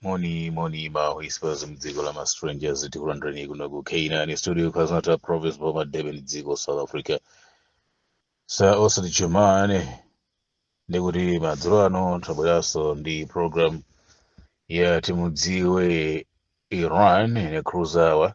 Moni moni ma whispers mdziko la ma strangers tikulandireni kuno ku K9 studio KwaZulu-Natal province Boma Durban dziko South Africa SA osati chumane ndikuti madzulo ano tabweranso ndi program ya timudziwe Iran ine cruzawa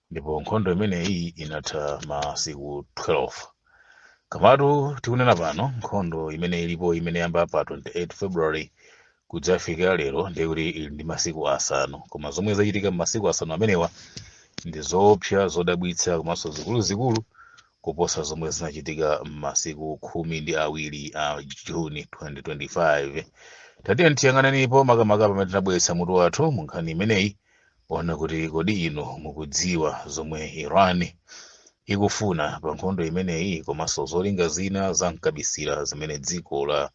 ndipo nkhondo imeneyi inatha masiku 12 komatu tikunena pano nkhondo imene ilipo imene yayamba pa 28 february kudzafika lero ndiye kuti ili ndi masiku asanu koma zomwe zachitika m'masiku asanu amenewa ndi zoopsa zodabwitsa komanso zikuluzikulu kuposa zomwe zinachitika m'masiku khumi ndi awiri a juni 2025 tatiyeni tiyang'anenipo makamaka pamene tinabweretsa mutu wathu mu nkhani imeneyi yonena kuti kodi inu mukudziwa zomwe Iran ikufuna pa nkhondo imeneyi komanso zolinga zina za mkabisira zimene dziko la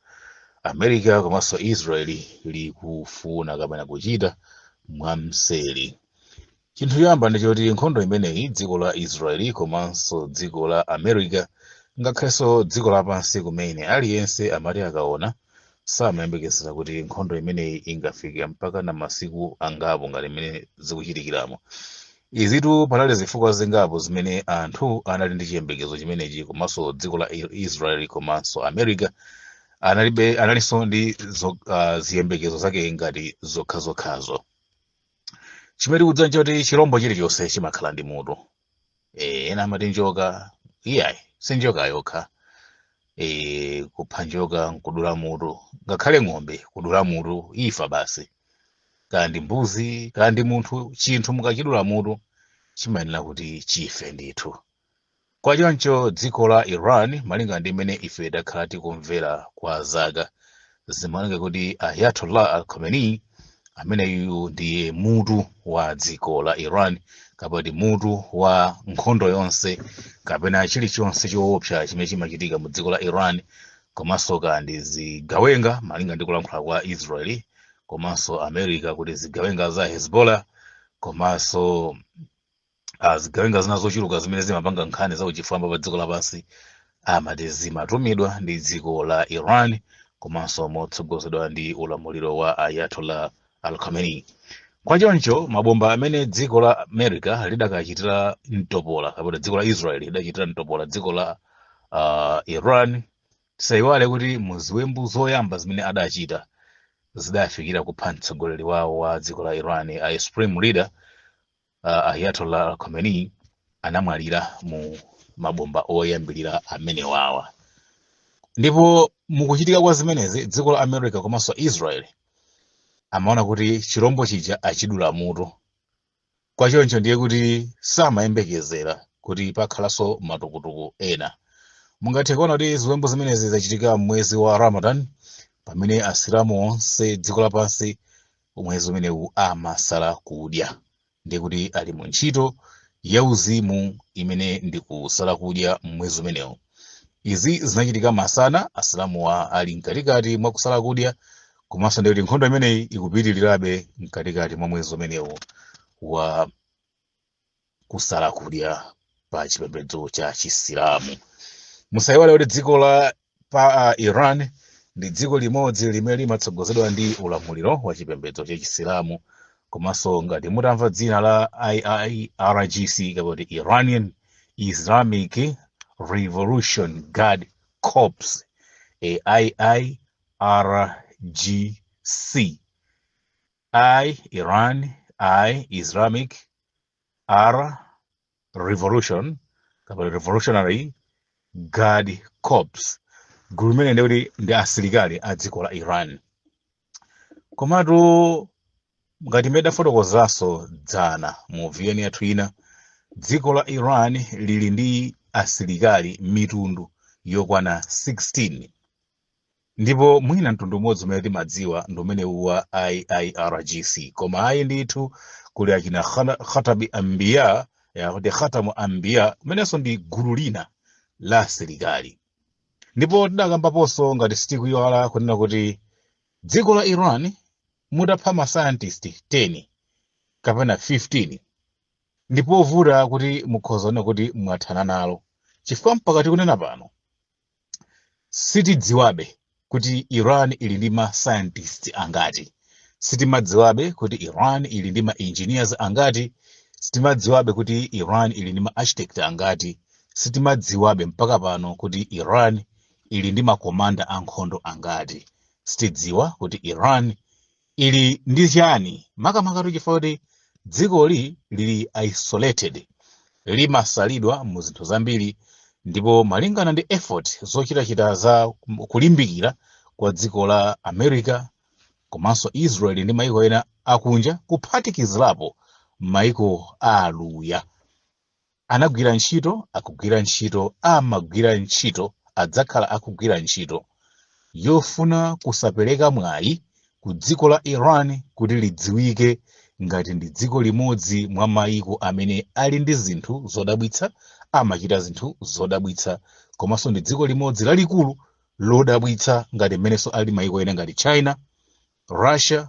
America komanso Israel likufuna kapena kuchita mwamseri. Chinthu choyamba ndi choti nkhondo imeneyi dziko la Israel komanso dziko la America ngakhalenso dziko lapansi kumene aliyense amati akaona samayembekezera kuti nkhondo imeneyi ingafike mpaka na masiku angapo ngati mmene zikuchitikiramu izitu panali zifukwa zingapo zimene anthu anali ndi chiyembekezo chimenechi komanso dziko la I- israel komanso america analibe analinso ndi zo, uh, ziyembekezo zake ngati zokhazokhazo chimene tikudziwa nchoti chirombo chilichonse chimakhala ndi mutu eh, ena amati njoka iyayi si njoka yokha eh, kupha njoka nkudula mutu ngakhale ng'ombe kudula mutu ifa basi kaya ndi mbuzi kaya ndi munthu chinthu mukachidula mutu chimayenera kuti chife ndithu kwa choncho dziko la iran malinga ndi mmene ife takhala tikumvera kwa zaka zimaoneka kuti ayatollah al khamenei ameneyu ndiye mutu wa dziko la iran kapena ndi mutu wa nkhondo yonse kapena chilichonse choopsa chimene chimachitika mu dziko la iran komanso kaya ndi zigawenga malinga ndi kulankhula kwa israeli komanso america kuti zigawenga za hezbollah komanso ah, zigawenga zina zochuluka zimene zimapanga nkhani za uchifwamba pa dziko lapansi amati zimatumidwa ndi dziko la iran komanso motsogozedwa ndi ulamuliro wa ayatollah al khamenei kwa choncho mabomba amene dziko la america lidakachitira mtopola kapena dziko la israel lidachitira mtopola dziko la ah, iran tisayiwale kuti mu ziwembu zoyamba zimene adachita zidafikira kupha mtsogoleri wawo wa dziko la iran a supreme leader uh, Ayatollah Al Khamenei anamwalira mu mabomba oyambirira amenewawa ndipo mukuchitika kwa zimenezi dziko la America komanso Israel amaona kuti chirombo chija achidula mutu kwa choncho ndiye kuti samayembekezera kuti pakhalanso matukutuku ena mungathe kuona kuti ziwembu zimenezi zachitika mwezi wa Ramadan pamene asilamu onse dziko lapansi mwezi umenewu amasala kudya ndiye kuti ali mu ntchito yauzimu imene ndi kusala kudya mmwezi umenewu izi zinachitika masana asilamuwa ali mkatikati mwa kusala kudya komanso ndiye kuti nkhondo imeneyi ikupitirirabe mkatikati mwa mwezi umenewu wa kusala kudya pa chipembedzo cha chisilamu musayiwale kuti dziko la pa uh, iran ndi dziko limodzi limene limatsogozedwa ndi ulamuliro wa chipembedzo cha chisilamu komanso ngati mutamva dzina la iirgc kapena kuti iranian islamic revolution guard corps e iirgc I, Iran, I, Islamic, R, Revolution, kapena Revolutionary Guard Corps, gulu limene ndi akuti ndi asilikali a dziko la Iran. Komatu ngati mmene tidafotokozanso dzana mu VN yathu ina, dziko la Iran lili ndi asilikali mitundu yokwana 16. Ndipo mwina mtundu umodzi umene timadziwa ndi umenewu wa IIRGC. Koma ayi ndithu, kuli achina Khatam Anbiya, ya kuti Khatamu Anbiya, limenenso ndi gulu lina la asilikali. Ndipo tidakambaponso ngati sitikuyiwala kunena kuti dziko la Iran mutapha ma scientist 10 kapena 15 ndipovuta kuti mukhoza kunena kuti mwathana nalo chifukwa mpaka tikunena pano sitidziwabe kuti iran ili ndi ma scientist angati sitimadziwabe kuti iran ili ndi ma engineers angati sitimadziwabe kuti iran ili ndi ma architect angati sitimadziwabe mpaka pano kuti iran ili ndi makomanda ankhondo angati sitidziwa kuti iran ili ndi chiyani makamakatu chifukwa kuti dzikoli lili isolated limasalidwa mu zinthu zambiri ndipo malingana ndi effort zochitachita za kulimbikira kwa dziko la america komanso israel ndi maiko ena akunja kuphatikizirapo maiko a aluya anagwira ntchito akugwira ntchito amagwira ntchito adzakhala akugwira ntchito yofuna kusapereka mwayi ku dziko la iran kuti lidziwike ngati ndi dziko limodzi mwa mayiko amene ali ndi zinthu zodabwitsa amachita zinthu zodabwitsa komanso ndi dziko limodzi lalikulu lodabwitsa ngati mmenenso ali mayiko ena ngati china russia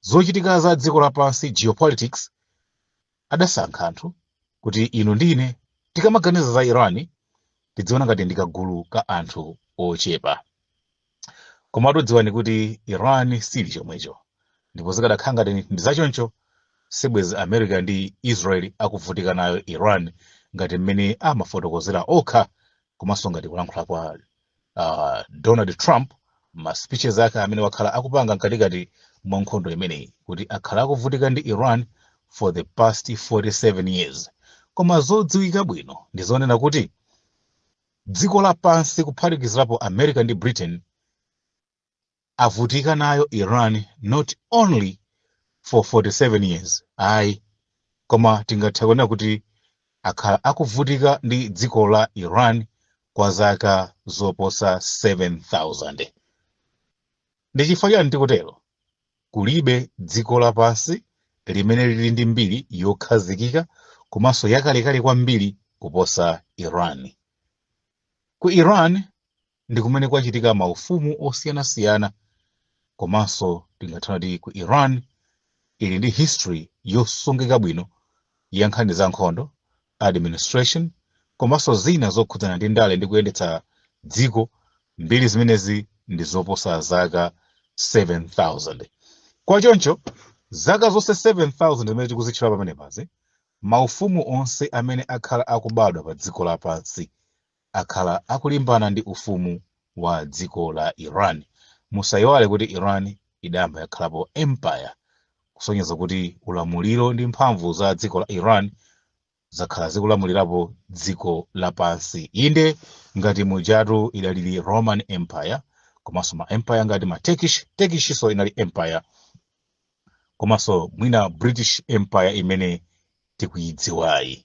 zochitika za dziko lapansi geopolitics adasankha anthu kuti inu ndi ine tikamaganiza za iran tidziona ngati ndi kagulu ka anthu ochepa koma tadziwani kuti iran sili chomwecho ndipo zikadakhala ngati ndi zachoncho sibwezi america ndi israel akuvutika nayo iran ngati mmene amafotokozera okha komanso ngati kulankhula kwa uh, donald trump ma speeches ake amene wakhala akupanga mkatikati mwa nkhondo imeneyi kuti akhala akuvutika ndi iran for the past 47 years koma zodziwika bwino ndi zonena kuti dziko lapansi kuphatikizirapo america ndi britain avutika nayo Iran not only for 47 years ayi koma tingathe kunena kuti akhala akuvutika ndi dziko la Iran kwa zaka zoposa 7000 ndi chifukwa chani tikutero kulibe dziko lapansi limene lili ndi mbiri yokhazikika komanso yakalekale kwambiri kuposa Iran ku Iran ndi kumene kwachitika maufumu osiyanasiyana komanso tingathe kunena kuti ku iran ili ndi history yosungika bwino ya nkhani za nkhondo administration komanso zina zokhudzana ndi ndale ndi kuyendetsa dziko mbiri zimenezi ndi zoposa zaka 7000 kwa choncho zaka zonse 7000 zimene tikuzitchula pamenepazi maufumu onse amene akhala akubadwa pa dziko lapansi akhala akulimbana ndi ufumu wa dziko la Iran. Musaiwale kuti Iran idayamba yakhalapo empire kusonyeza kuti ulamuliro ndi mphamvu za dziko la Iran zakhala zikulamulirapo dziko lapansi. Inde ngati mujatu idalili Roman Empire komanso ma empire ngati ma Turkish, Turkishinso inali empire komanso mwina British Empire imene tikuyidziwayi.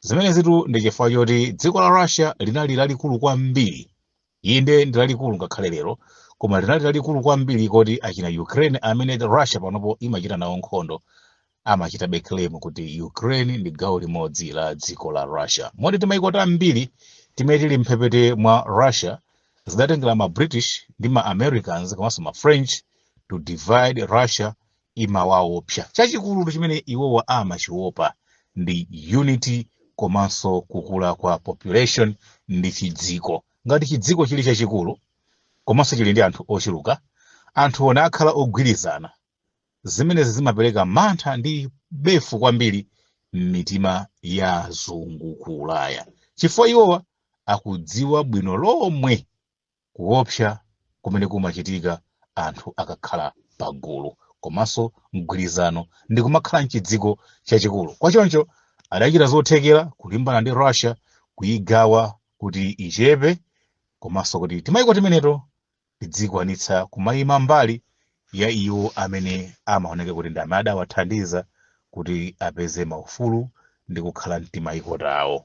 zimenezitu ndi chifukwa choti dziko la russia linali lalikulu kwambiri inde ndi lalikulu ngakhale lero koma linali lalikulu kwambiri koti achina ukraine amene russia panopo imachita nawo nkhondo amachitabe claim kuti ukraine ndi gawo limodzi la dziko la russia moti timayiko tambiri timene tili mphepete mwa russia zidatengera ma british ndi ma americans komanso ma french to divide russia imawaopsa. Chachikulu chimene iwowa amachiopa ndi unity komanso kukula kwa population ndi chidziko. Ngati chidziko chili chachikulu komanso chili ndi anthu ochuluka, anthuwo nakhala ogwirizana, zimenezi zimapereka mantha ndi befu kwambiri m'mitima ya azungu ku Ulaya, chifukwa iwowa akudziwa bwino lomwe kuopsa kumene kumachitika anthu akakhala pagulu komanso mgwirizano ndi kumakhala mchidziko chachikulu kwa choncho adachita zothekera kulimbana ndi russia kuyigawa kuti ichepe komanso kuti timayiko timeneto tidzikwanitsa kumayima mbali ya iwo amene amaoneka kuti ndi amene adawathandiza kuti apeze maufulu ndi kukhala mtimayiko tawo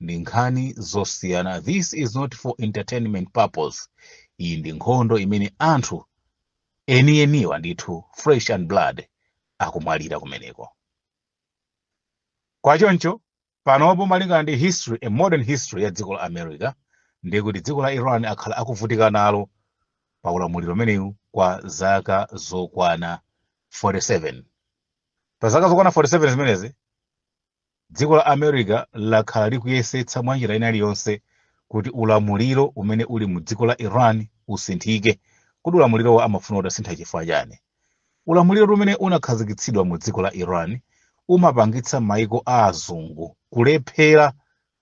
ndi nkhani zosiyana this is not for entertainment purpose iyi ndi nkhondo imene anthu enieniwa ndithu flesh and blood akumwalira kumeneko kwa choncho panopo malingana ndi history a modern history ya dziko la america ndiye kuti dziko la iran akhala akuvutika nalo pa ulamuliro umenewu kwa zaka zokwana 47 pa zaka zokwana 47 zimenezi Dziko la America lakhala likuyesetsa mwanjira ina iliyonse kuti ulamuliro umene uli mu dziko la Iran usinthike. Kodi ulamulirowo amafuna utasintha chifukwa chani? Ulamuliro umene unakhazikitsidwa mu dziko la Iran umapangitsa maiko a azungu kulephera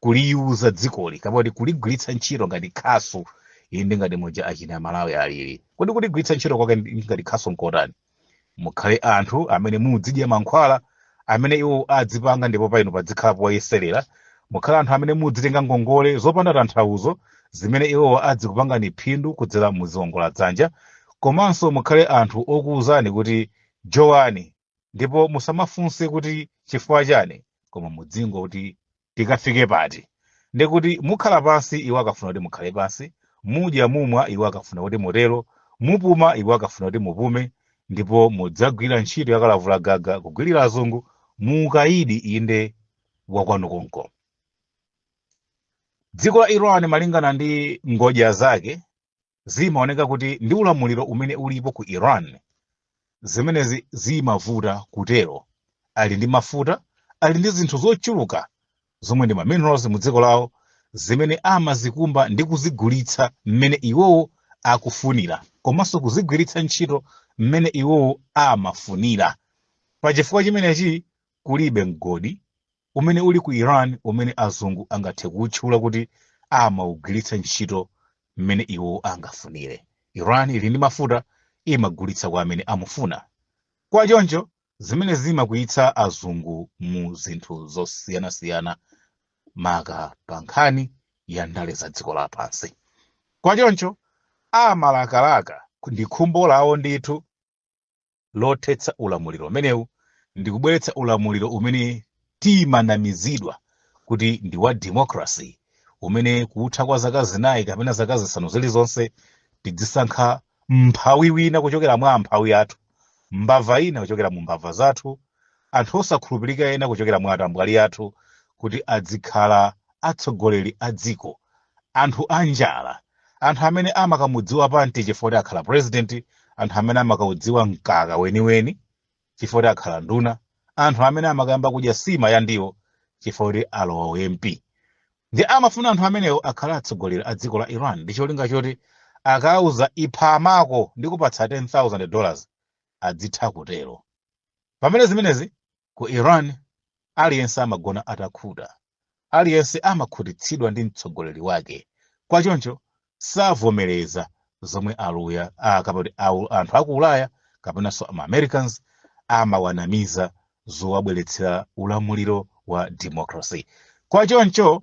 kuliuza dzikoli kapena kuti kuligwiritsa ntchito ngati khasu inde ngati muja achina malawi alili kodi kuligwiritsa ntchito kwake ndi- ngati khasu nkotani mukhale anthu amene mudzidya mankhwala amene iwo adzipanga ndipo pa inu padzikhala poyeserera mukhale anthu amene mudzitenga ngongole zopanda tanthauzo zimene iwo adzikupangani phindu kudzera mu ziwongola dzanja komanso mukhale anthu okuwuzani kuti jowani ndipo musamafunse kuti chifukwa chani koma mudzingo kuti tikafike pati ndi kuti mukhala pansi iwo akafuna kuti mukhale pansi mudya mumwa iwo akafuna kuti mutero mupuma iwo akafuna kuti mupume ndipo mudzagwira ntchito yakalavula gaga kugwirira azungu muukayidi inde wakwanu konko dziko la iran malingana ndi ngodya zake zimaoneka kuti ndi ulamuliro umene ulipo ku Iran zimenezi zimavuta kutero ali ndi mafuta ali ndi zinthu zochuluka zomwe ndi ma minerals mu dziko lawo zimene amazikumba ndi kuzigulitsa mmene iwowo akufunira komanso kuzigwiritsa ntchito mmene iwowo amafunira pa chifukwa chimenechi kulibe mgodi umene uli ku iran umene azungu angathe kuwutchula kuti amaugwiritsa ntchito mmene iwo angafunire iran ili ndi mafuta imagulitsa kwa amene imafuna kwa choncho zimene zimakwiyitsa azungu mu zinthu zosiyanasiyana maka pa nkhani ya ndale za dziko lapansi kwa choncho amalakalaka ndi khumbo lawo ndithu lothetsa ulamuliro umenewu ndi kubweretsa ulamuliro umene timanamizidwa kuti ndi wa democracy umene kutha kwa zaka zinayi kapena zaka zisanu zilizonse tidzisankha mphawi wina kuchokera mwa amphawi athu mbava ina kuchokera mu mbava zathu anthu osakhulupirika ena kuchokera mwa atambwali athu kuti adzikhala atsogoleri a dziko anthu anjala anthu amene amakamudziwa panti chifukwa kuti akhala president anthu amene amakaudziwa mkaka weniweni chifukwa kuti akhala nduna anthu amene amakayamba kudya sima ya ndiwo chifukwa kuti alowa u mp ndi amafuna anthu amenewo akhale atsogoleri a dziko la iran ndi cholinga choti akawauza ipha amako ndikupatsa 10000 dollars adzitha kutero pamene zimenezi ku iran aliyense amagona atakhuta aliyense amakhutitsidwa ndi mtsogoleri wake kwa choncho savomereza zomwe aluya ah, kapati awu- anthu aku ulaya kapenanso ma americans amawanamiza zowabweretsera ulamuliro wa democracy kwa choncho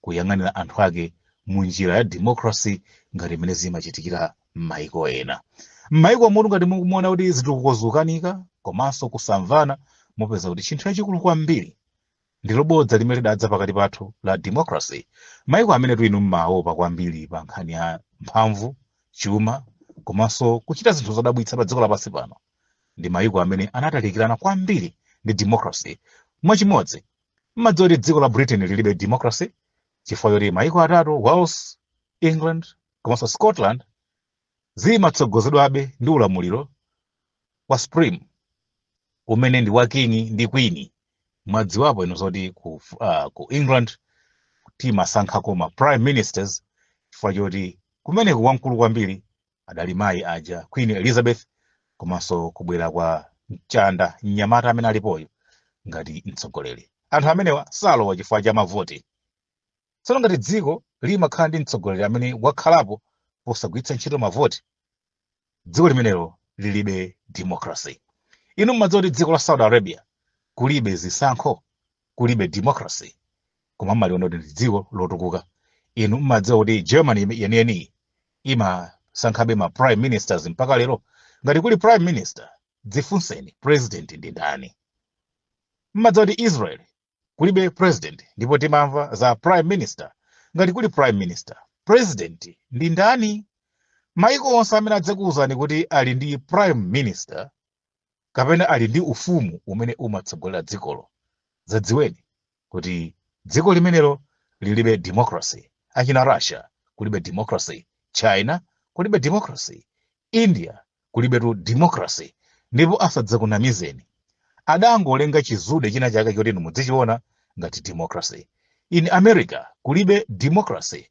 kuyang'anira anthu ake mu njira ya democracy ngati mmene zimachitikira m'mayiko ena m'mayiko muno ngati mukuona kuti zitukuko zikukanika komanso kusamvana mupeza kuti chinthu chachikulu kwambiri ndilo bodza limene lidadza pakati pathu la democracy mayiko amene inu mmaopa kwambiri pa nkhani ya mphamvu chuma komanso kuchita zinthu zodabwitsa pa dziko lapansi pano ndi mayiko amene anatalikirana kwambiri ndi democracy mwachimodzi mmadziwa kuti dziko la britain lilibe democracy chifukwa choti maiko atatu wales england komanso scotland zimatsogozedwabe ndi ulamuliro wa supreme umene ndi wa king ndi queen mmadziwapo inu zoti ku, uh, ku england timasankhako ma prime ministers chifukwa choti kumeneko wamkulu kwambiri adali mayi aja queen elizabeth komanso kubwera kwa mchanda mnyamata amene alipoyo ngati mtsogoleri anthu amenewa salowa chifukwa cha mavoti tsono ngati dziko limakhala ndi mtsogoleri amene wakhalapo posagwiritsa ntchito mavoti dziko limenelo lilibe democracy inu mumadziwa kuti dziko la saudi arabia kulibe zisankho kulibe democracy koma mmaliona kuti ndi dziko lotukuka inu mmadziwa kuti germany ime- yeniyeniyi imasankhabe ma prime ministers mpaka lero ngati kuli prime minister dzifunseni president ndi ndani mmadziwa kuti israel kulibe president ndipo timamva za prime minister ngati kuli prime minister president ndi ndani maiko onse amene adzakuwuzani kuti ali ndi prime minister kapena ali ndi ufumu umene umatsogolera dzikolo. Zadziweni kuti dziko limenelo lilibe democracy. Achina Russia kulibe democracy, China kulibe democracy, India kulibetu democracy. Ndipo asadzakunamizeni, adangolenga chizude china chake choti inu mudzichiona ngati democracy. In America kulibe democracy,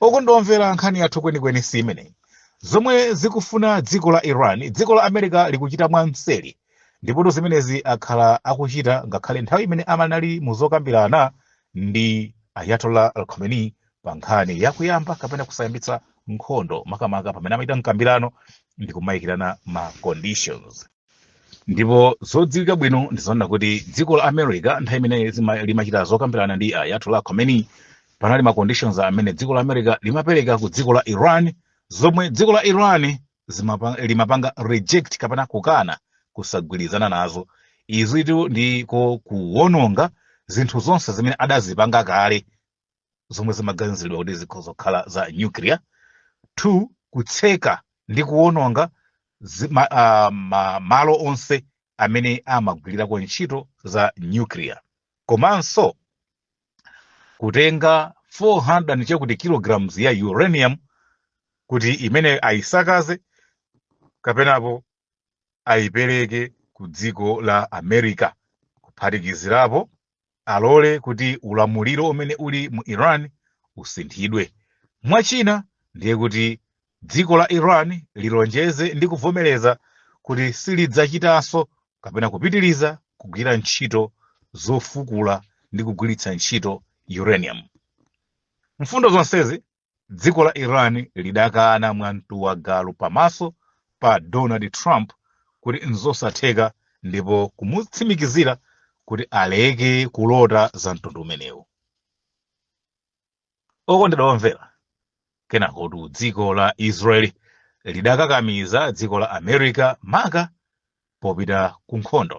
Okondedwa omvera nkhani yathu kwenikweni si imeneyi. Zomwe zikufuna dziko la Iran, dziko la America likuchita mwamseri. Ndipotu zimenezi akhala akuchita ngakhale nthawi imene anali mu zokambirana ndi Ayatollah Al Khamenei pa nkhani ya kuyamba kapena kusayambitsa nkhondo makamaka pamene amachita mkambirano ndi kumayikirana ma conditions. ndipo zodziwika bwino ndizoona kuti dziko la america nthawi imene zima- limachita zokambirana ndi ayatollah khomeini panali ma conditions amene dziko la america limapereka ku dziko la iran zomwe dziko la iran zimapa- limapanga reject kapena kukana kusagwirizana nazo izitu ndiko kuwononga zinthu zonse zimene adazipanga kale zomwe zimaganiziridwa kuti zikhoza kukhala za nuclear two kutseka ndi kuwononga zi- ma- ah, ma- malo onse amene amagwirirako ntchito za nuclear komanso kutenga 400 ndi chakuti kilograms ya uranium kuti imene ayisakaze kapenapo ayipereke ku dziko la America kuphatikizirapo alole kuti ulamuliro umene uli mu Iran usinthidwe. Mwa china ndiye kuti dziko la Iran lilonjeze ndi kuvomereza kuti silidzachitanso kapena kupitiriza kugwira ntchito zofukula ndi kugwiritsa ntchito uranium. Mfundo zonsezi Dziko la Iran lidakana mwa mtu wa galu pamaso pa Donald Trump kuti n'zosatheka ndipo kumutsimikizira kuti aleke kulota za mtundu umenewu. Okondedwa omvera, kenakotu dziko la Israel lidakakamiza dziko la America maka popita ku nkhondo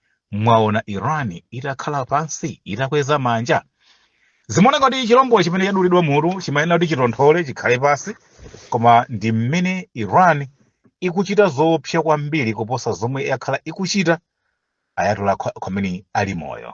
mwaona iran itakhala pansi itakweza manja zimaoneka kuti chilombo chimene chadulidwa mutu chimayenera kuti chitonthole chikhale pansi koma ndi mmene iran ikuchita zoopsa kwambiri kuposa zomwe yakhala ikuchita ayatollah Khamenei ali moyo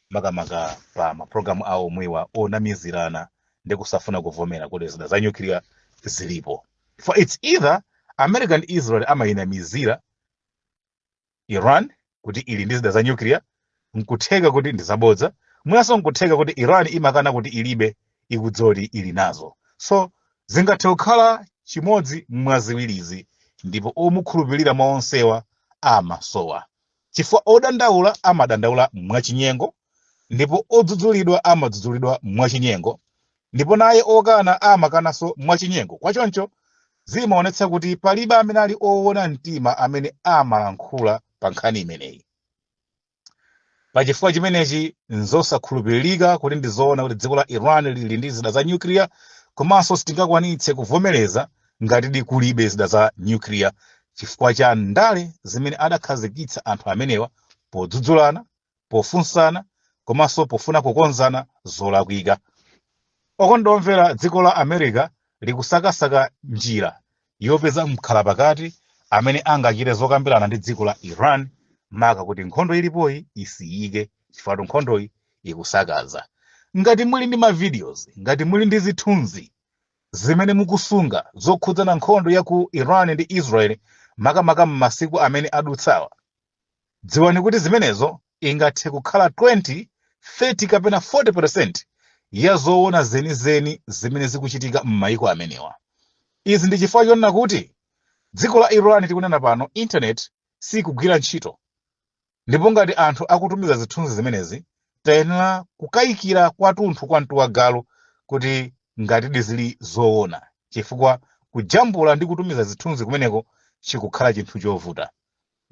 makamaka pa mapulogalamu awo omwewa onamizirana ndi kusafuna kuvomera kuti zida za nyukiliya zilipo for it's either america ndi israel amayinamizira iran kuti ili ndi zida za nyukiliya nkutheka kuti ndi zabodza mwinanso nkutheka kuti iran imakana kuti ilibe ikudziwa kuti ili nazo so zingathe kukhala chimodzi mwa ziwirizi ndipo omukhulupirira mwa onsewa amasowa Chifukwa odandaula amadandaula mwachinyengo, ndipo odzudzulidwa amadzudzulidwa mwachinyengo, ndipo naye okana amakananso mwachinyengo, kwa choncho zimaonetsa kuti palibe amene ali oona mtima amene amalankhula pa nkhani imeneyi. Pa chifukwa chimenechi, n'zosakhulupiririka kuti ndi zoona kuti dziko la Iran lili ndi zida za nyukiliya, komanso sitingakwanitse kuvomereza ngatidi kulibe zida za nyukiliya chifukwa cha ndale zimene adakhazikitsa anthu amenewa podzudzulana pofunsana komanso pofuna kukonzana zolakwika okondedwa omvera dziko la america likusakasaka njira yopeza mkhalapakati amene angachite zokambirana ndi dziko la iran maka kuti nkhondo ilipoyi isiyike chifukwatu nkhondoyi ikusakaza ngati muli ndi mavideos ngati muli ndi zithunzi Zimene mukusunga zokhudzana nkhondo ya ku Iran ndi Israel makamaka m'masiku amene adutsawa, dziwani kuti zimenezo ingathe kukhala 20, 30 kapena 40 percent ya zoona zenizeni zimene zikuchitika m'mayiko amenewa. Izi ndi chifukwa chonena kuti dziko la Iran tikunena pano internet sikugwira ntchito. Ndipo ngati anthu akutumiza zithunzi zimenezi, tayenera kukayikira kwathunthu kwa mtu wagalu kuti ngatidi zili zoona, chifukwa kujambula ndi kutumiza zithunzi kumeneko chikukhala chinthu chovuta.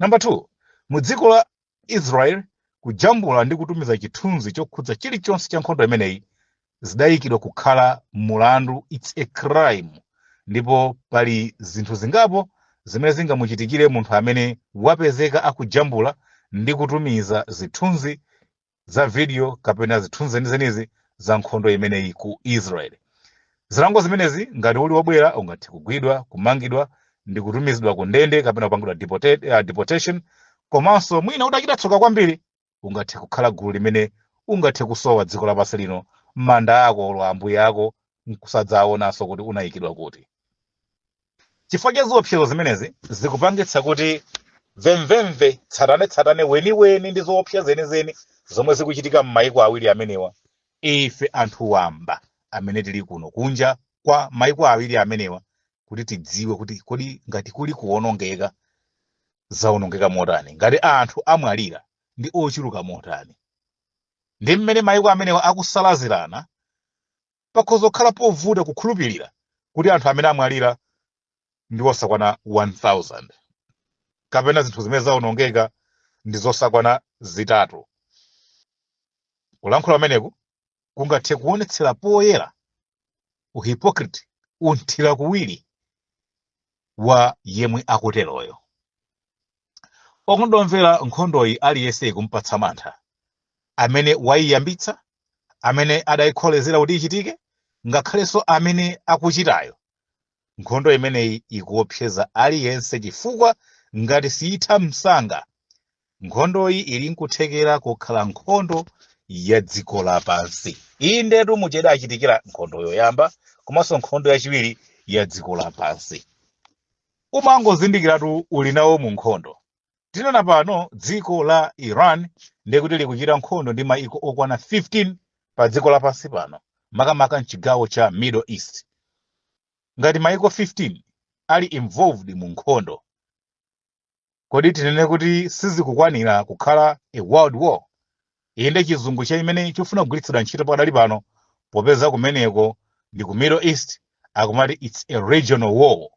Number 2, mu dziko la Israel kujambula ndi kutumiza chithunzi chokhudza chilichonse cha nkhondo imeneyi zidayikidwa kukhala mulandu its a crime ndipo pali zinthu zingapo zimene zingamuchitikire munthu amene wapezeka akujambula ndi kutumiza zithunzi za video kapena zithunzi zenizenizi za nkhondo imeneyi ku israel zilango zimenezi ngati uli wobwera ungathe kugwidwa kumangidwa ndi kutumizidwa ku ndende kapena kupangidwa deportation komanso mwina utachita tsoka kwambiri ungathe kukhala gulu limene ungathe kusowa dziko lapansi lino manda ako olo ambuye ako nkusadzaonanso kuti unayikidwa kuti chifukwa cha ziopsezo zimenezi zikupangitsa kuti mvemvemve tsatanetsatane weniweni ndi zoopsa zenizeni zomwe zikuchitika m'mayiko awiri amenewa ife anthu wamba amene tili kuno kunja kwa mayiko awiri amenewa kuti tidziwe kuti kodi ngati kuli kuwonongeka zawonongeka motani ngati anthu amwalira ndi ochuluka motani ndi mmene mayiko amenewa akusalazirana pakhoza kukhala povuta kukhulupirira kuti anthu amene amwalira ndi osakwana 1000 kapena zinthu zimene zawonongeka ndi zosakwana zitatu kulankhula kumeneku kungathe kuonetsera poyera uhipokriti, unthira kuwiri wa yemwe akuteroyo. Okonda omvera nkhondoyi aliyense ikumpatsa mantha, amene waiyambitsa, amene adaikholezera kuti ichitike, ngakhalenso amene akuchitayo, Nkhondo imeneyi ikuopseza aliyense chifukwa ngati siitha msanga, nkhondoyi ili n'kuthekera kukhala nkhondo ya dziko lapansi. Inde ndithu muja idachitikira nkhondo yoyamba komanso nkhondo yachiwiri ya dziko lapansi. Umangozindikiratu uli nawo mu nkhondo. Tinena pano dziko la Iran ndiye kuti likuchita nkhondo ndi mayiko okwana 15 pa dziko lapansi pano, makamaka m'chigawo cha Middle East. Ngati mayiko 15 ali involved mu nkhondo, kodi tinene kuti sizikukwanira kukhala a world war? Inde chizungu chimene chikufuna kugwiritsidwa ntchito pakadali pano popeza kumeneko ndi ku Middle East akumati it's a regional war.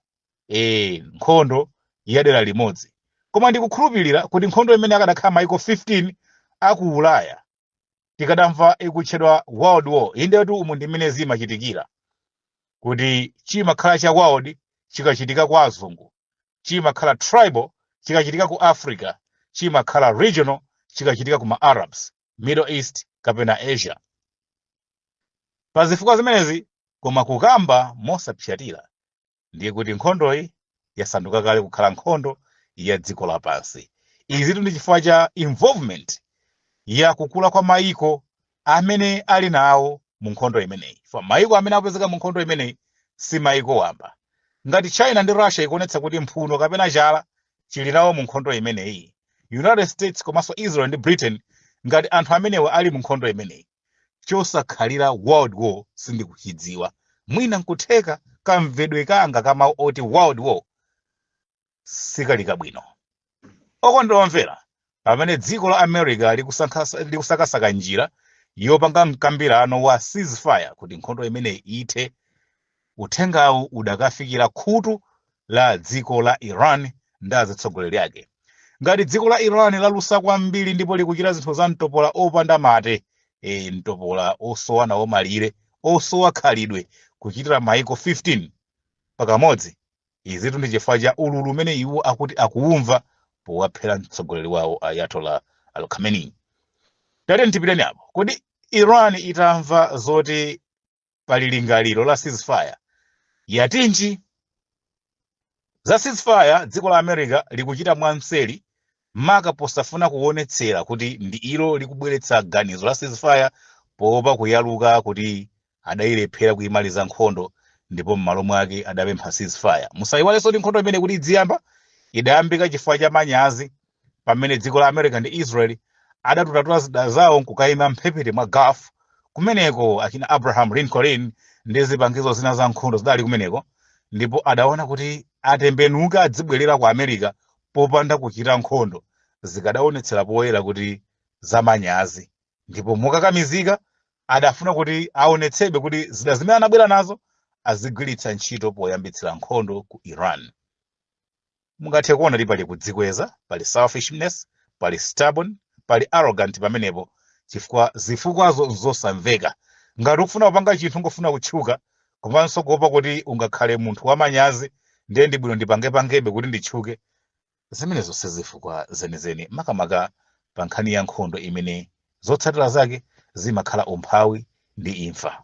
eh nkhondo ya dera limodzi koma ndikukhulupirira kuti nkhondo imeneyi akadakhala maiko 15 aku ulaya tikadamva ikutchedwa world war indetu umu ndi mmene zimachitikira kuti chimakhala cha world chikachitika kwa azungu chimakhala tribal chikachitika ku africa chimakhala regional chikachitika ku ma arabs middle east kapena asia pa zifukwa zimenezi koma kukamba mosapsatira ndiye kuti nkhondoyi yasanduka kale kukhala nkhondo ya dziko lapansi izitu ndi chifukwa cha involvement ya kukula kwa mayiko amene ali nawo mu nkhondo imeneyi chifukwa mayiko amene akupezeka mu nkhondo imeneyi si mayiko wamba ngati china ndi russia ikuonetsa kuti mphuno kapena chala chili nawo mu nkhondo imeneyi united states komanso israel ndi britain ngati anthu amenewa ali mu nkhondo imeneyi chosakhalira world war sindikuchidziwa mwina nkutheka kamvedwe kanga ka mawu oti world war sikali bwino okondedwa omvera pamene dziko la america likusakasaka njira yopanga mkambirano wa ceasefire kuti nkhondo imeneyi ithe Uthengawu udakafikira khutu la dziko la Iran ndi azitsogoleri ake. Ngati dziko la Iran lalusa kwambiri ndipo likuchita zinthu za mtopola opanda mate, ee, mtopola osowa nawo malire, osowa khalidwe, kuchitira maiko 15 pakamodzi, izitu ndi chifukwa cha ululu umene iwo akuti akuumva powaphera mtsogoleri wawo Ayatollah Al-Khamenei. Tatiyeni tipiteni apo. Kodi Iran itamva zoti pali lingaliro la ceasefire yatinji za ceasefire dziko la america likuchita mwamseri maka posafuna kuonetsera kuti ndi ilo likubweretsa ganizo la ceasefire poopa kuyaluka kuti adayilephera kuyimaliza nkhondo ndipo m'malo mwake adapempha ceasefire musayiwalenso kuti nkhondo imeneyi kuti idziyamba idayambika chifukwa cha manyazi pamene dziko la america ndi israel adatututa zida zawo nkukayima mphepete mwa gulf kumeneko achina abraham lincoln ndi zipangizo zina za nkhondo zidali kumeneko ndipo adaona kuti atembenuka adzibwerera ku america popanda kuchita nkhondo zikadaonetsera poyera kuti zamanyazi ndipo mokakamizika adafuna kuti aonetsebe kuti zida zimene anabwera nazo azigwiritsa ntchito poyambitsira nkhondo ku iran Mungathe kuona kuti pali kudzikweza, pali selfishness, pali stubborn, pali arrogant pamenepo chifukwa zifukwazo nzosamveka. Ngati ukufuna kupanga chinthu n'kufuna kutchuka komanso kuopa kuti ungakhale munthu wamanyazi ndiye ndi bwino ndipange pangebe kuti nditchuke, zimenezo si zifukwa zenizeni makamaka pa nkhani ya nkhondo imene zotsatira zake zimakhala umphawi ndi imfa.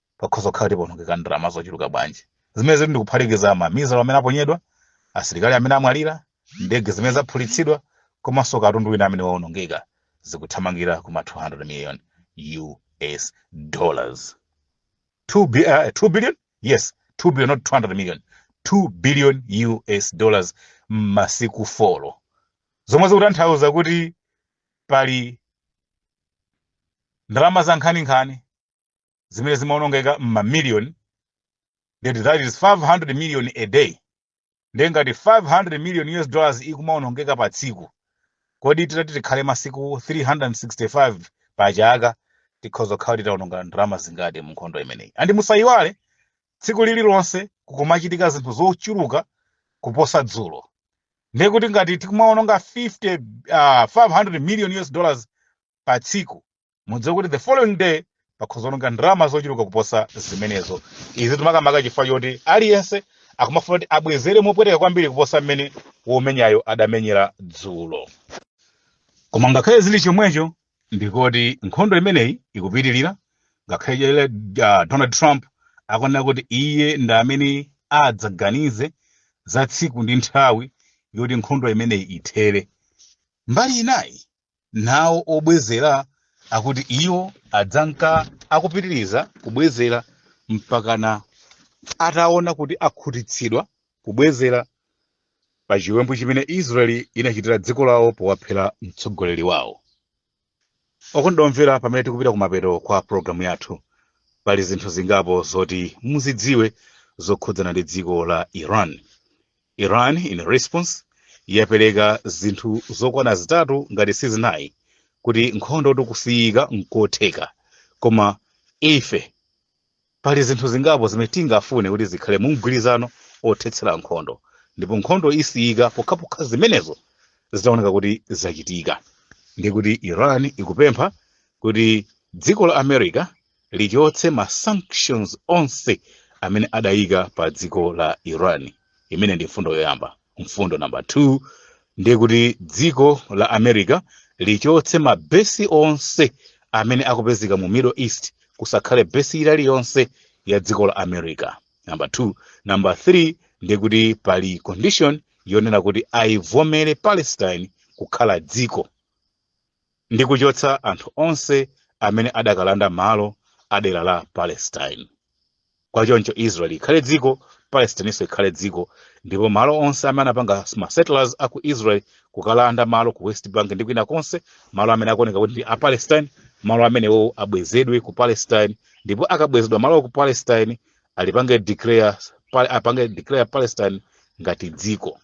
pakhoza kukhala kuti pawonongeka ndalama zochuluka bwanji zimene zikuti ndikuphatikiza mamizalo amene aponyedwa asilikali amene amwalira ndege zimene zaphulitsidwa komanso katundu wina amene waonongeka zikuthamangira kuma 200 million us dollars 2, bi- uh, 2 billion yes 2 billion not 200 million 2 billion us dollars m'masiku folo zomwe zikutanthauza kuti pali ndalama za nkhaninkhani zimene zimaonongeka m'mamiliyoni that is 500 million a day ndiye ngati 500 million us dollars ikumaonongeka pa tsiku kodi titati tikhale masiku 365 pa chaka tikhoza kukhala titaononga ndalama zingati mu nkhondo imeneyi andi musayiwale tsiku lililonse kukumachitika zinthu zochuluka kuposa dzulo ndiye kuti ngati tikumaononga 50 uh, 500 million us dollars pa tsiku mudziwe kuti the following day pakhoza kuononga ndalama zochuluka kuposa zimenezo izi ndi makamaka chifukwa choti aliyense akumafuna kuti abwezere mopweteka kwambiri kuposa mmene womenyayo adamenyera dzulo koma ngakhale zili chomwecho ndi kuti nkhondo imeneyi ikupitirira ngakhale chele uh, donald trump akunena kuti iye ndi amene adzaganize za tsiku ndi nthawi yoti nkhondo imeneyi ithere mbali inayi nawo obwezera akuti iwo adzanka akupitiriza kubwezera mpakana ataona kuti akhutitsidwa kubwezera pa chiwembu chimene israeli inachitira dziko lawo powaphera mtsogoleri wawo okondedwa omvera pamene tikupita kumapeto kwa pologalamu yathu pali zinthu zingapo zoti muzidziwe zokhudzana ndi dziko la iran Iran in response yapereka zinthu zokwana zitatu ngati sizinayi kuti nkhondo kusiyika nkotheka koma ife pali zinthu zingapo zimene tingafune kuti zikhale mu mgwirizano othetsera nkhondo ndipo nkhondo isiyika pokhapokha zimenezo zitaoneka kuti zachitika ndi kuti iran ikupempha kuti dziko la america lichotse ma sanctions onse amene adayika pa dziko la iran imene ndi mfundo yoyamba mfundo namba 2 ndi kuti dziko la america lichotse ma besi onse amene akupezeka mu middle east kusakhale besi ili yonse ya dziko la america namba 2 namba 3 ndi kuti pali condition yonena kuti ayivomere palestine kukhala dziko ndi kuchotsa anthu onse amene adakalanda malo a dera la palestine kwa choncho israel ikhale dziko palestininso ikhale dziko ndipo malo onse amene anapanga ma settlers a ku israel kukalanda malo ku west bank ndi kwina konse malo amene akuoneka kuti ndi a palestine malo amenewo abwezedwe ku palestine ndipo akabwezedwa malowa ku palestine ali- apange declare palestine ngati dziko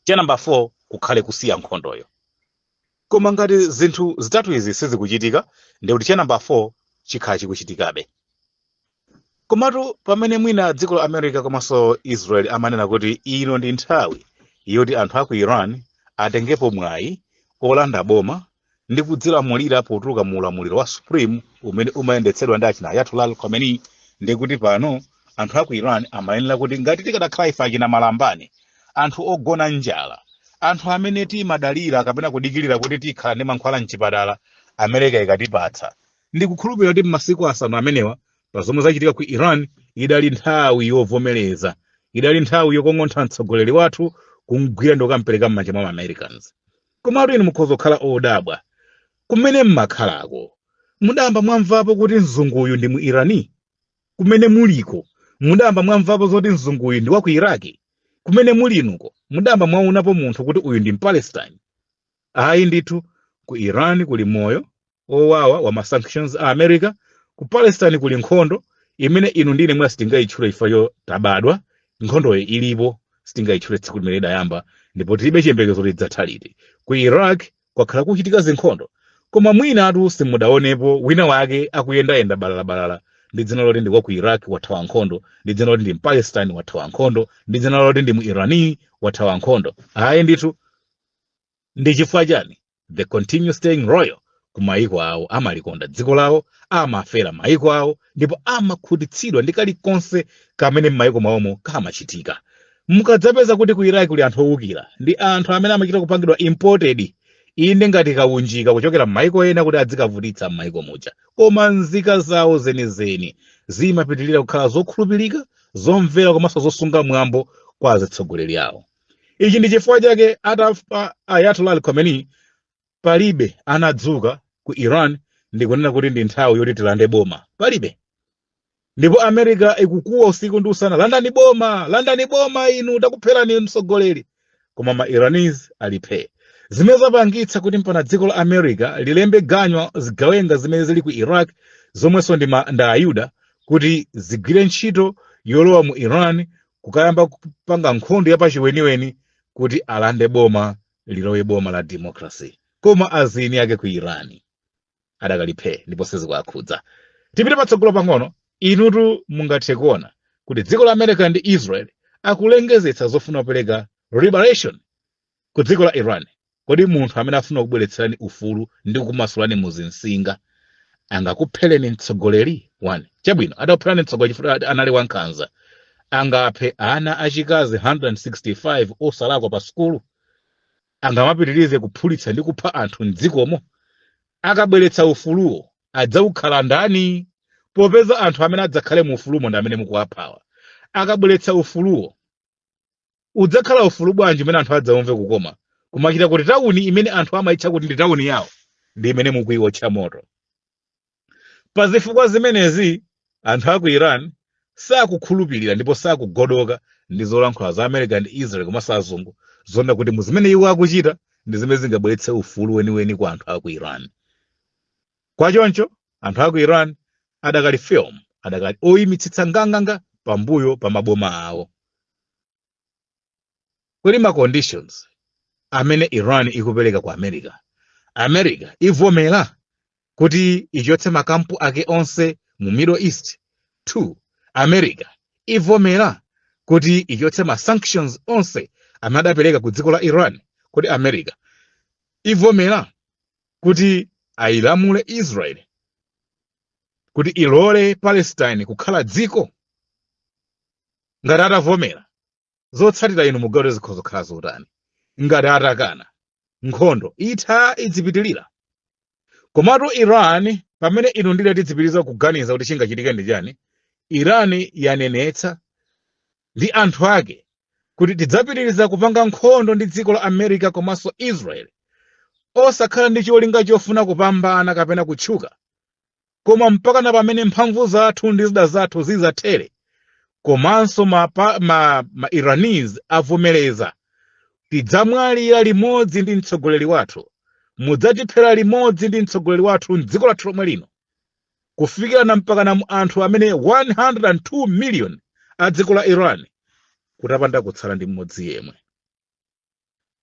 cha namba 4 kukhale kusiya nkhondoyo koma ngati zinthu zitatu izi sizikuchitika ndi kuti cha namba 4 chikhala chikuchitikabe komatu pamene mwina dziko la america komanso israel amanena kuti ino ndi nthawi yoti anthu a ku iran atengepo mwayi olanda boma ndi kudzilamulira potuluka mu ulamuliro wa supreme umene umayendetsedwa ndi achina ayatollah al khomeini ndi kuti pano anthu a ku iran amayenera kuti ngati tikadakhala ife achina malambani anthu ogona njala anthu amene timadalira kapena kudikirira kuti tikhala ndi mankhwala mchipatala america ikatipatsa ndi kukhulupirira kuti m'masiku asanu amenewa pa zomwe zachitika ku iran idali nthawi yovomereza idali nthawi yokong'ontha mtsogoleri wathu kumgwira ndi kukampereka m'manja mwa maamericans Komatu inu mukhoza kukhala odabwa. Kumene m'makhalako, mudayamba mwamvapo kuti mzunguyu ndi Muirani? Kumene muliko, mudayamba mwamvapo zoti mzunguyu ndi wa ku Iraki? Kumene muli inuko, mudayamba mwaonapo munthu kuti uyu ndi Mpalestine? Ayi ndithu, ku Iran kuli moyo, owawa wa ma sanctions a america ku palestine kuli nkhondo imene inu ndi ine mwa sitingayitchule ifeyo tabadwa nkhondoyo ilipo sitingayitchule tsiku limene idayamba ndipo tilibe chiyembekezo idzatha liti ku iraq kwakhala kuchitika zinkhondo koma mwinatu simudaonepo wina wake akuyendayenda balalabalala ndi dzina loti ndi wa ku iraq wathawa nkhondo ndi dzina loti ndi mpalestine wathawa nkhondo ndi dzina loti ndi mu irani wathawa nkhondo ayi ndithu ndi chifukwa chani they continue staying loyal ku maiko awo amalikonda dziko lawo amafera maiko awo ndipo amakhutitsidwa ndi kalikonse kamene m'maiko mwawomo kamachitika mukadzapeza kuti ku iraq kuli anthu owukira ndi anthu amene amachita kupangidwa imported inde ngati kaunjika kuchokera m'maiko ena kuti adzikavutitsa m'maiko muja koma nzika zawo zenizeni zimapitirira kukhala zokhulupirika zomvera komanso zosunga mwambo kwa azitsogoleri awo ichi ndi chifukwa chake atafa ayatollah al khamenei palibe anadzuka ku iran ndikunena kuti ndi nthawi yoti tilande boma palibe ndipo america ikukuwa usiku ndi usana landani boma landani boma inu takupherani mtsogoleri koma ma iranis ali phee zimene zapangitsa kuti mpaka dziko la america lilembe ganyo zigawenga zimene zili ku iraq zomwenso nda ayuda kuti zigwire ntchito yolowa mu iran kukayamba kupanga nkhondo yapachiweniweni kuti alande boma lilowe boma la democracy koma nzika zake ku iran adakali phee ndipo sizikuwakhudza tipite patsogolo pang'ono inutu mungathe kuona kuti dziko la america ndi israel akulengezetsa zofuna kupereka liberation Ku dziko la Iran, kodi munthu amene afuna kubweretserani ufulu ndi kumasulani muzinsinga angakuphereni mtsogoleri? 1. Chabwino, adakupherani mtsogoleri chifukwa anali wankhanza, angaphe ana achikazi 165 osalakwa pa sukulu? Angamapitirize kuphulitsa ndi kupha anthu m'dzikomo? Akabweretsa ufuluwo, adzawukhala ndani? Popeza anthu amene adzakhale mu ufulumo ndi amene mukuwaphawa. Akabweretsa ufuluwo, udzakhala ufulu bwanji umene anthu adzaumve kukoma kumachita kuti tawuni imene anthu amayitcha kuti ndi tawuni yawo ndi imene mukuiwotcha moto pa zifukwa zimenezi anthu a ku iran sakukhulupirira ndipo sakugodoka ndi zolankhula za america ndi israel komanso azungu zonena kuti mu zimene iwo akuchita ndi zimene zingabweretse ufulu weniweni kwa anthu a ku iran kwa choncho anthu a ku iran adakali firm adakali oyimitsitsa nganganga pambuyo pa maboma awo kodi ma conditions amene iran ikupereka ku america america ivomera kuti ichotse makampu ake onse mu middle east 2 america ivomera kuti ichotse ma sanctions onse amene adapereka ku dziko la iran kodi america ivomera kuti ayilamule israel kuti ilole palestine kukhala dziko ngati atavomera zotsatira inu mukaona zikhoza kukhala zotani ngati atakana nkhondo itha idzipitirira komatu iran pamene inu ndi ine tidzipitiriza kuganiza kuti chingachitike ndi chani iran yanenetsa ndi anthu ake kuti tidzapitiriza kupanga nkhondo ndi dziko la America komanso Israel osakhala ndi cholinga chofuna kupambana kapena kutchuka koma mpakana pamene mphamvu zathu ndi zida zathu zidzathere komanso ma Iranese avomereza tidzamwalira limodzi ndi mtsogoleri wathu mudzatiphera limodzi ndi mtsogoleri wathu m'dziko lathu lomwe lino kufikirana mpakana mu anthu amene 102 million a dziko la iran kutapanda kutsala ndi mmodzi yemwe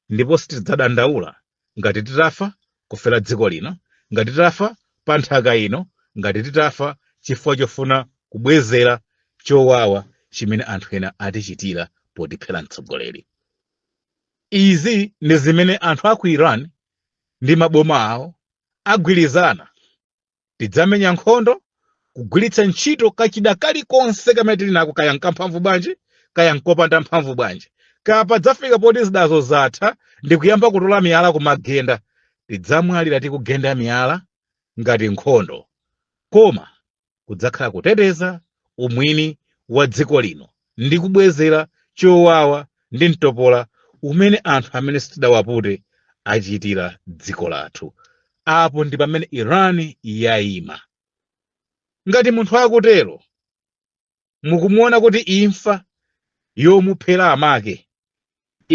ndipo sitidzadandaula ngati titafa kufera dziko lino ngati titafa pa nthaka ino ngati titafa chifukwa chofuna kubwezera chowawa chimene anthu ena atichitira potiphera mtsogoleri izi ndi zimene anthu a ku iran ndi maboma awo agwirizana tidzamenya nkhondo kugwiritsa ntchito kachida kalikonse kamene tili nako kaya nkamphamvu bwanji kaya nkopanda mphamvu bwanji kaya padzafika poti zidazo zatha ndi kuyamba kutola miyala kumagenda tidzamwalira tikugenda miyala ngati nkhondo koma kudzakhala kuteteza umwini wa dziko lino ndi kubwezera chowawa ndi mtopola umene anthu amene sitidawapute achitira dziko lathu apo ndi pamene iran yayima ngati munthu akutero mukumuona kuti imfa yomuphera amake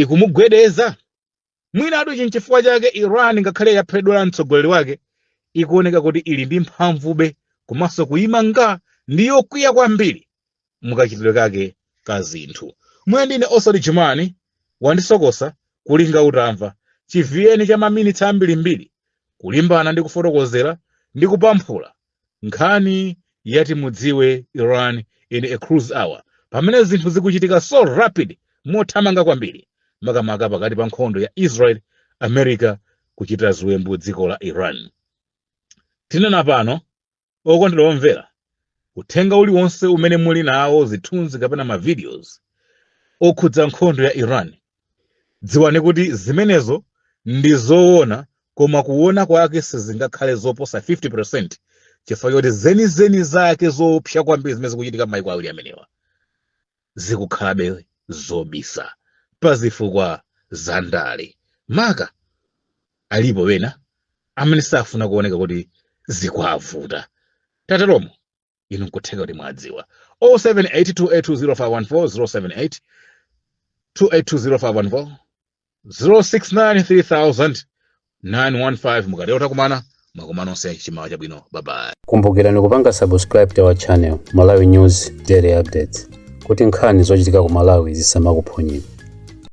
ikumugwedeza Mwinatu ichi n'chifukwa chake Iran ngakhale yaphedwera mtsogoleri wake, ikuoneka kuti ili ndi mphamvube komanso kuima nga ndi yokwiya kwambiri mukachitidwe kake ka zinthu. Mwe ndine Oswald Jumani, wandisokosa kulinga utamva, chiviyeni cha maminitsi ambirimbiri kulimbana ndi kufotokozera ndi kupamphula nkhani yati mudziwe iran in a crucial hour pamene zinthu zikuchitika so rapid mothamanga kwambiri makamaka pakati pa nkhondo ya israel america kuchita ziwembu dziko la iran tinena pano okondedwa omvera uthenga uliwonse umene muli nawo zithunzi kapena mavideos okhudza nkhondo ya iran dziwani kuti zimenezo ndi zoona koma kuoona kwake sizingakhale zoposa 50 percent chifukwa choti zenizeni zake zoopsa kwambiri zimene zikuchitika m'mayiko awiri amenewa zikukhalabe zobisa pa zifukwa za ndale maka alipo wena amene safuna kuoneka kuti zikuwavuta tateromo inu nkutheka kuti mwadziwa 0782820514 0782820514 069300915 mukatero takumana makomo onse chimawa chabwino bye bye kumbukirani kupanga subscribe to our channel malawi news daily updates kuti nkhani zochitika ku malawi zisamakuphonyeni